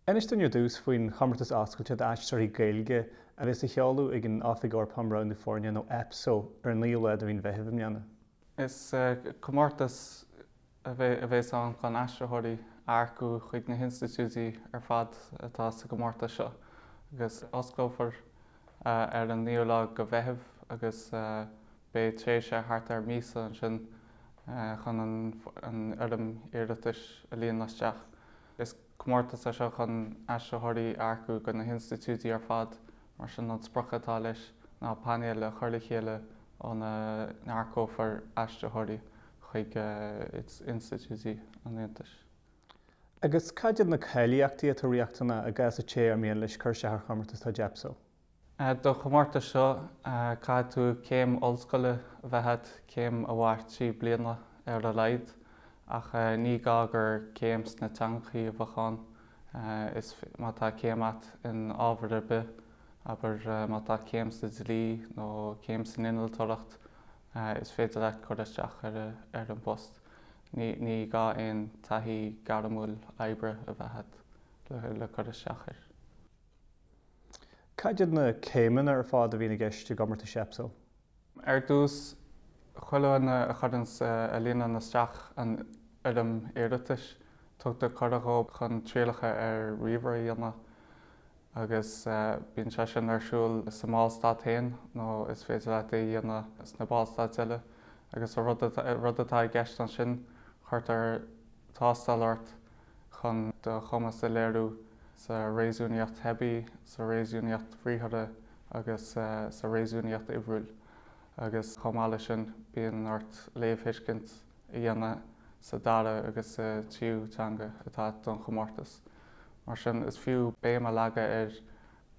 Inis dúinn ar dtús faoin chomórtas oscailte d'aistritheoirí Gaeilge a bheas á sheoladh ag an Oifig Eorpach um Roghnú Foirne nó Epso ar an 9ú lá de mhí an Mheithimh i mbliana. Is comórtas a bheas ann chun aistritheoirí a earcú chuig na hinstitiúidí ar fad atá sa gcomórtas seo agus osclófar ar an 9ú lá de Mheitheamh agus Beidh tréimhse thart ar míosa ansin chun an fhoirm iarratais a líonadh isteach. Is comórtas é seo chun aistritheoirí a earcú go na hinstitiúidí ar fad, mar sin an sprioc atá leis ná painéil a chur le chéile óna n-earcófar aistritheoirí chuig institiúidí an Aontais. Agus cad iad na cáilíochtaí atá riachtanach i gcás an té ar mian leis cur isteach ar chomórtas atá ag Epso? Don chomórtas seo caithfidh céim ollscoile a bheith agat, céim a mhairfidh trí bliana ar a laghad, ach ní gá gur céim sna teangachaí a bheadh ann. Is má tá céim agat in ábhar ar bith, abair má tá céim sa dlí nó céim san innealtóireacht, is féidir leat cur isteach ar an bpost. Ní gá aon taithí gairmiúil oibre a bheith agat le cur isteach air. Cad iad na céimeanna ar fad a bhíonn i gceist i gcomórtais Epso? Ar dtús, chuile dhuine a chuireann a líonann isteach an fhoirm iarratais, tugtar cuireadh dhóibh chun trialacha ar ríomhaire a dhéanamh agus bíonn sé sin ar siúl sa mBallstát féin nó is féidir leat é a dhéanamh sna Ballstáit eile agus an rud atá i gceist ansin cuirtear tástáil ort chun do chumas a léiriú sa réasúnaíocht theibí, sa réasúnaíocht bhriathartha agus sa réasúnaíocht uimhriúil agus chomh maith leis sin bíonn ort léamhthuiscint a dhéanamh sa dara agus sa tríú teanga atá agat don chomórtas. Mar sin is fiú béim a leagadh ar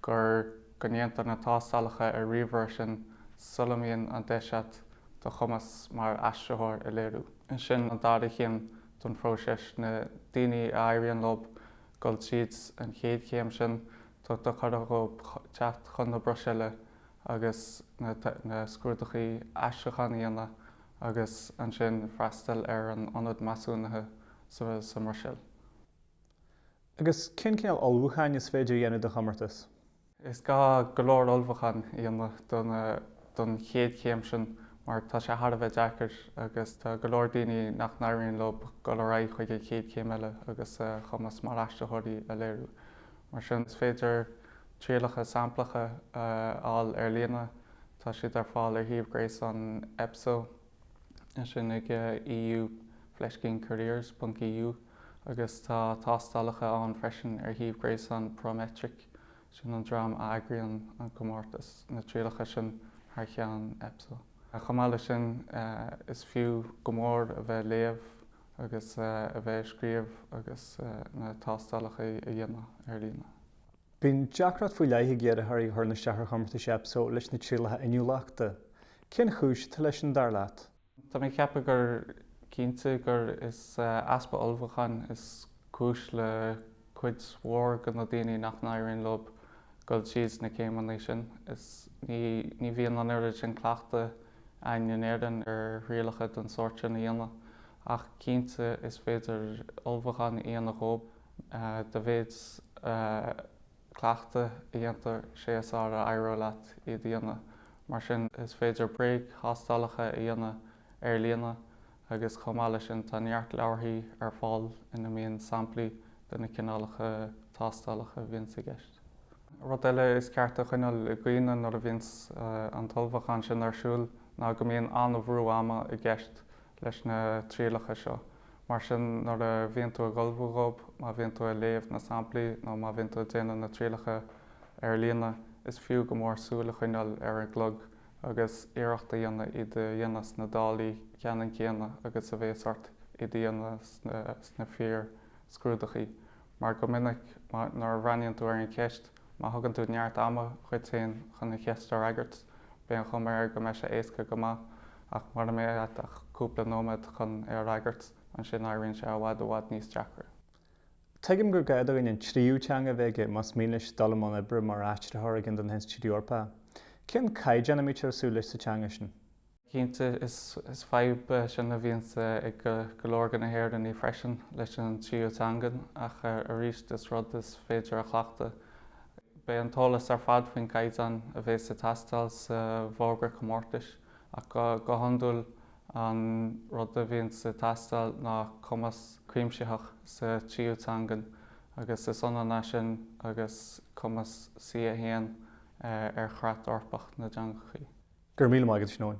gur go ndéantar na tástálacha ar ríomhaire sin sula mbíonn an deis agat do chumas mar aistritheoir a léiriú. Ansin an dara chéim don phróiseas, na daoine a éiríonn leob goil tríd an chéad chéim sin, tugtar cuireadh dhóibh teacht chun na Bruiséile agus na scrúdachaí aistriúcháin a dhéanamh agus ansin freastal ar an ionad measúnaithe sa mBruiséil. Agus cén cineál ullmhúcháin is féidir a dhéanamh do chomórtas? Is gá go leor ullmhúcháin a dhéanamh don chéad chéim sin mar tá sé thar a bheith deacair agus tá go leor daoine nach n-éiríonn leo dul ar aghaidh chuig an chéad chéim eile agus a chumas mar aistritheoirí a léiriú. Mar sin is féidir trialacha samplacha a fháil ar líne, tá siad ar fáil ar shuíomh gréasáin Epso, é sin ag eu fleiscín careers ponc eu. agus tá tástálacha ann freisin ar shuíomh gréasáin Prometric, sin an dream a eagraíonn an comórtas, na trialacha sin thar cheann Epso. Chomh maith leis sin, is fiú go mór a bheith ag léamh agus a bheith ag scríobh agus na tástálacha a dhéanamh ar líne. Bíonn deacracht faoi leith ag iarrthóirí thar na seachair chomórtais Epso leis na trialacha inniúlachta. Cén chúis atá leis sin, dar leat? Tá mé ceaptha gur cinnte gur is easpa ullmhúcháin is cúis le cuid mhór de na daoine nach n-éiríonn leo dul thríd na céimeanna sin. Is ní bhíonn an oiread sin cleachtadh againn in Éirinn ar thrialacha den sórt sin a dhéanamh, ach cinnte is féidir ullmhúchán a dhéanamh dhób dá mhéad cleachtadh a dhéantar is ea is fearr a éireoidh leat iad a dhéanamh. Mar sin, is féidir bréagthástálacha a dhéanamh ar líne agus chomh maith leis sin tá neart leabharthaí ar fáil ina mbíonn samplaí de na cineálacha tástálacha a bhíonns i gceist. Rud eile is ceart a choinneáil i gcuimhne nuair a bhíonns an t-ullmhúchán sin ar siúl ná go mbíonn an-bhrú ama i gceist leis na trialacha seo. Mar sin nuair a bhíonn tú ag ullmhú dhób, má bhíonn tú ag léamh na samplaí nó má bhíonn tú ag déanamh na trialacha ar líne, is fiú go mór súil a choinneáil ar an gclog agus iarracht a dhéanamh iad a dhéanamh sna dálaí ceannann céanna agus a bhéas ort iad a dhéanamh sna fíor scrúdachaí mar go minic nuair a bhreathnaíonn tú ar an cheist Má thugann tú neart ama dhuit féin chun an cheist a fhreagairt, bíonn an chuma air go mbeidh sé éasca go maith, ach mura mbeidh agat ach cúpla nóiméad chun é a fhreagairt, ansin éiríonn sé i bhfad i bhfad níos deacra. Tuigim gur gá do dhuine an tríú teanga a bheith aige más mian leis dul i mbun oibre mar aistritheoir ag ceann d'institiúidí na hEorpa. Cén caighdeán a mbítear ag súil leis sa teanga sin? Cinnte, is fadhb é sin a bhíonn ag go leor de na hÉireannaigh freisin leis an tríú teangan ach arís is rud is féidir a chleachtadh. Beidh an t-eolas ar fad faoin gcaighdeán a bheas ag teastáil sa bhfógra comórtais ach go hiondúil an rud a bhíonns ag teastáil ná cumas cuimsitheach sa tríú teangan agus is ionann é sin agus cumas C1 ar Chreat Eorpach na dTeangachaí. Go raibh míle maith agat a Sheáin.